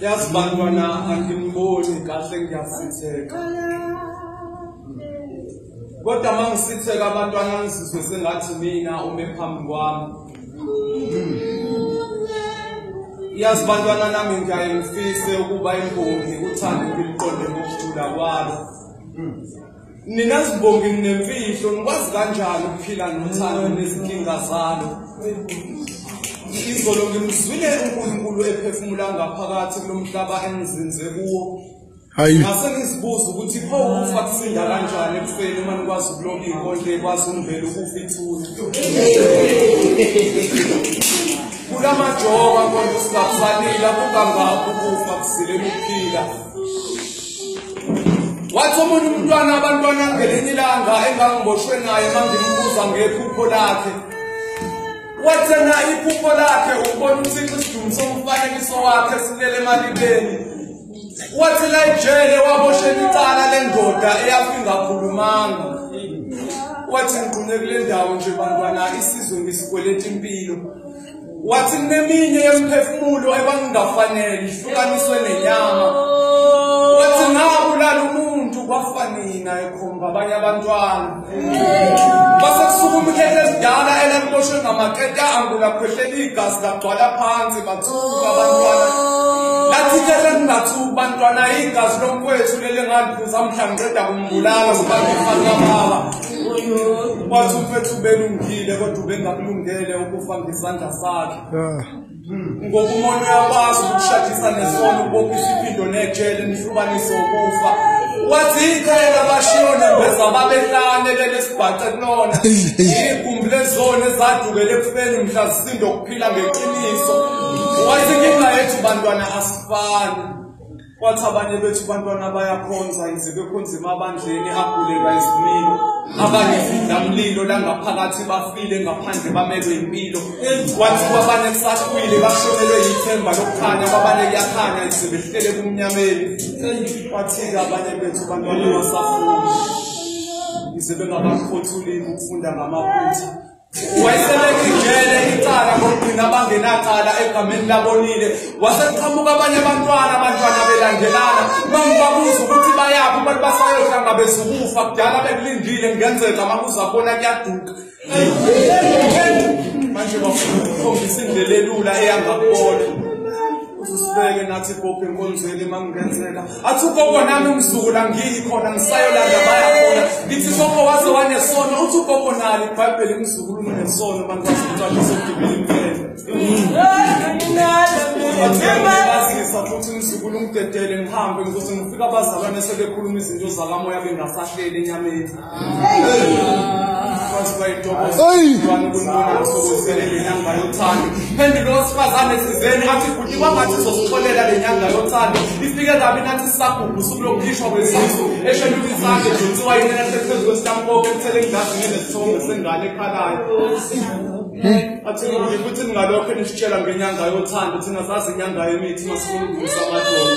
yazi bantwana angimboni kahle ngiyasitheka kodwa uma ngisitheka abantwana ngizizwe sengathi mina ume phambi kwami yazi bantwana nami ngiyaye ngifise ukuba imbongi uthando ngiliqonde ngokujula kwalo Nina zibongi nemfihlo nikwazi kanjani ukuphila nothando nezinkinga zalo. Izolo ngimzwile uNkulunkulu ephefumula ngaphakathi kulomhlaba engizinze kuwo. Hayi. Ngase ngizibuza ukuthi pho ukufa kusinda kanjani ekufeni uma nikwazi ukulonga inkondle ekwazi umbhelo ukufa ithuna. Kulamajoka konke singakufanele akukangakho ukufa kusilele ukuphila. wathi omunye umntwana abantwana ngelinye ilanga engangiboshwe naye mangimbuza ngephupho lakhe wathena iphupho lakhe ukubona uthixo isidumi somfanekiso wakhe silele emalibeni wathi la ejele waboshela icala lendoda eyafi ngakhulumanga wathi ngiqune kule ndawo nje bantwana isizwe ngisikweleta impilo wathi kuneminye yemiphefumulo ekwangingafanele ihlukaniswe nenyama wathi ngabulala umuntu kwafa nina ekhomba abanye abantwana base kusuka umkhehla esidala elangiboshwe ngamaketa angula khwehlela igazi lagcwala phansi bathuka abantwana lathi ikhehla lingathuki bantwana igazi lomkwethu lele ngaliphuza mhla ngiqeda kumbulala ngibanga ifana kababa wathi umfethu ubelungile kodwa ubengakulungele ukufa ngesandla sakhe ah. ngoba umuntu uyakwazi ukushadisa nesono ubopha isiphindo nejele nihlubanise ukufa wathi ikhaya labashiyo nembeza babehlane lelesibhace kulona igumbi lezona ezadukele ekufeni mhla zisindo okuphila ngeqiniso wathi inkinga yethu bantwana asifani Wathi abanye bethu bantwana bayakhonza yize bekhonza emabandleni agulelwa izimilo. Abanye sidlamlilo langaphakathi bafile ngaphandle bamelwe impilo. Wathi kwabanye kusahlwile bashonelwe yithemba lokukhanya kwabanye kuyakhanya yize behlele kumnyameni. Wathi-ke abanye bethu bantwana basafundi yize bengabakhothuli ukufunda ngamaphutha. wayesebeka ijele icala ngokugcina abangenacala egameni labonile waseqhamuka abanye abantwana abantwana belandelana mangibabuza ukuthi bayaphi abantu basayohlanga bezukufa kudala bekulindile kungenzeka makuza bona kuyaduka manje bafuna ukukhombisa indlela elula eyangakubona uzisibeke nathi kophi enkonzweni mangingenzeka athi ugogo nami umzukulu angiyi khona ngisayolanda baya khona ngithi ugogo waze wanesono uthi ugogo nalo ibhayibheli umzukulu unesono abantu basemtshaliswa udibile imfeleazisa futhi umzukulu umdedele ngihambe ngikuthi ngifika abazalwane sebekhuluma izinto zakamoya bengasahleli enyameni phendula owesifazane thizeni athi bhuti kwangathi sizosixolela le nyanga yothando ifike kabi nathi sisagugu usuku lokukhishwa kwezisu esheluka izandla edonsiwa yinena sephezu kwesitampoke ethele engilazi ngenesithombe sengane ekhalayo athini ukuthi futhi ningalokho nisitshela ngenyanga yothando thina sazi inyanga yemithi masifuna ukudlisa amadolo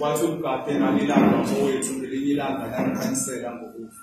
wathi umgade nami ilanga mfowethu ngelinye ilanga langikhanisela ngokufa